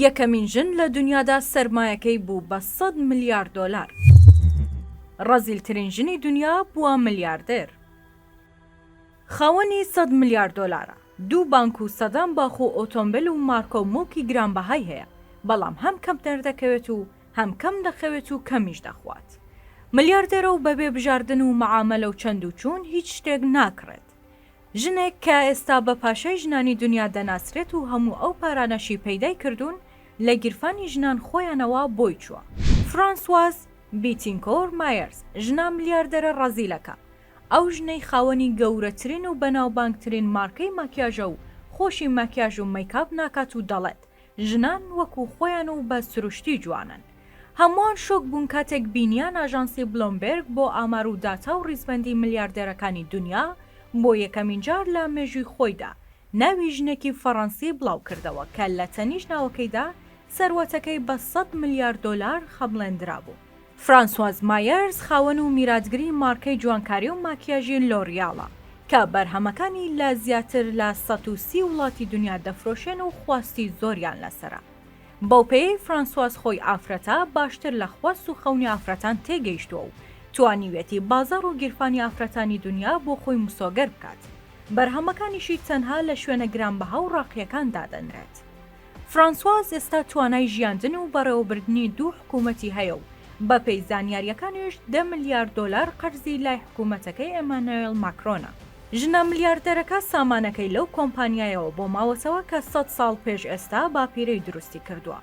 یەکەمین ژن لە دونیادا سەرمایەکەی بوو بە سەد ملیار دۆلار. ڕەزیلترین ژنی دونیا بووە ملیاردێر. خاوەنی سەد ملیار دۆلارە. دوو بانک و سەدان باخ و ئۆتۆمبێل و مارکە و موڵکی گرانبەهای هەیە، بەڵام هەم کەم دەردەکەوێت و هەم کەم دەخەوێت و کەمیش دەخوات. ملیاردێرە و بەبێ بژاردن و مەعامەلە و چەند و چوون هیچ شتێک ناکڕێت. ژنێک کە ئێستا بە پاشای ژنانی دونیا دەناسرێت و هەموو ئەو پارانەشی پەیدای کردوون لە گیرفانی ژنان خۆیانەوە بۆی چووە. فرانسواز بیتینکۆر مایەرز، ژنە ملیاردەرە ڕەزیلەکە، ئەو ژنەی خاوەنی گەورەترین و بەناوبانگترین مارکەی ماکیاژە و خۆشی ماکیاژ و مەیکاپ ناکات و دەڵێت، ژنان وەکو خۆیان و بە سروشتی جوانن. هەمووان شۆک بوون کاتێک بینیان ئاژانسی بلۆمبێرگ بۆ ئامار و داتا و ڕیزبەندی ملیاردێرەکانی دونیا بۆ یەکەمین جار لە مێژووی خۆیدا ناوی ژنێکی فەڕەنسی بڵاو کردەوە کە لە تەنیشت ناوەکەیدا سەروەتەکەی بە سەد ملیار دۆلار خەمڵێندرابوو. فرانسواز مایەرز خاوەن و میراتگری مارکەی جوانکاری و ماکیاژی لۆریاڵە کە بەرهەمەکانی لە زیاتر لە سەد و سی وڵاتی دونیا دەفرۆشێن و خواستی زۆریان لەسەرە. بەوپێیەی فرانسواز خۆی ئافرەتە، باشتر لە خواست و خەونی ئافرەتان تێگەیشتووە و توانیویەتی بازاڕ و گیرفانی ئافرەتانی دونیا بۆ خۆی مسۆگەر بکات. بەرهەمەکانیشی تەنها لە شوێنە گرانبەها و ڕاقییەکان دادەنرێت. فرانسواز ئێستا توانای ژیاندن و بەڕێوەبردنی دوو حکوومەتی هەیە و بەپێی زانیارییەکانیش دە میلیارد دۆلار قەرزی لای حکوومەتەکەی ئێمانۆێل ماکرۆنە. ژنە ملیاردێرەکە سامانەکەی لەو کۆمپانیایەوە بۆ ماوەتەوە کە سەد ساڵ پێش ئێستا باپیرەی دروستی کردووە،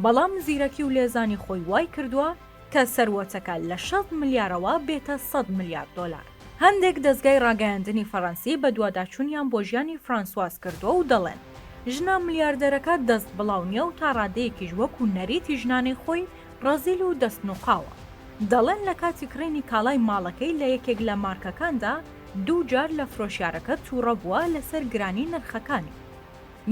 بەڵام زیرەکی و لێزانی خۆی وای کردووە کە سەروەتەکە لە شەست ملیارەوە بێتە سەد ملیار دۆلار. هەندێک دەزگای ڕاگەیاندنی فەرەنسی بەدواداچوونیان بۆ ژیانی فرانسواز کردووە و دەڵێن، ژنە ملیاردێرەکە دەست بڵاو نییە و تا ڕادەیەکیش وەکو نەریتی ژنانەی خۆی ڕەزیل و دەست نوقاوە. دەڵێن لە کاتی کڕینی کاڵای ماڵەکەی لە یەکێک لە مارکەکاندا، دوو جار لە فرۆشیارەکە تووڕە بووە لەسەر گرانی نرخەکانی.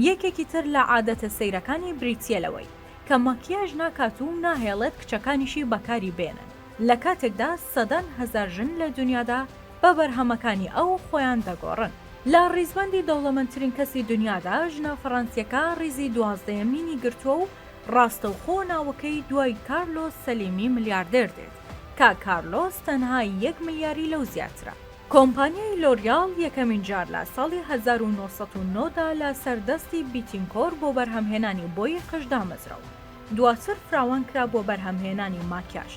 یەکێکی تر لە عادەتە سەیرەکانی بریتییە لەوەی، کە مەکیاژ ناکات و ناهێڵێت کچەکانیشی بەکاری بێنن، لە کاتێکدا سەدان هەزار ژن لە دونیادا بە بەرهەمەکانی ئەو خۆیان دەگۆڕن. لە ڕیزبەندی دەوڵەمەندترین کەسی دونیادا، ژنە فەڕەنسییەکە ڕیزی دوازدەیەمینی گرتووە و ڕاستەوخۆ ناوەکەی دوای کارلۆس سەلیمی ملیاردێر دێت. کاک کارلۆس تەنها یەک ملیاری لەو زیاترە. کۆمپانیای لۆریاڵ یەکەمین جار لە ساڵی هەزار و نۆ سەد و نۆ دا لە سەر دەستی بیتینکۆر بۆ بەرهەمهێنانی بۆی قژ دامەزرا و دواتر فراوان کرا بۆ بەرهەمهێنانی ماکیاژ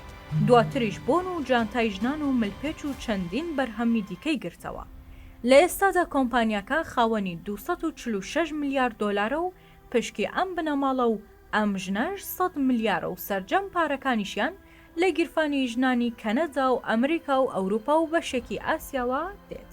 دواتریش بۆن و جانتای ژنان و ملپێچ و چەندین بەرهەمی دیکەی گرتەوە لە ئێستادا کۆمپانیاکە خاوەنی دوو سەد و چل و شەش ملیار دۆلارە و پشکی ئەم بنەماڵە و ئەم ژنەش سەد ملیارە و سەرجەم پارەکانیشیان لە گیرفانی ژنانی کەنەدا و ئەمریکا و ئەوروپا و بەشێکی ئاسیاوە دێت.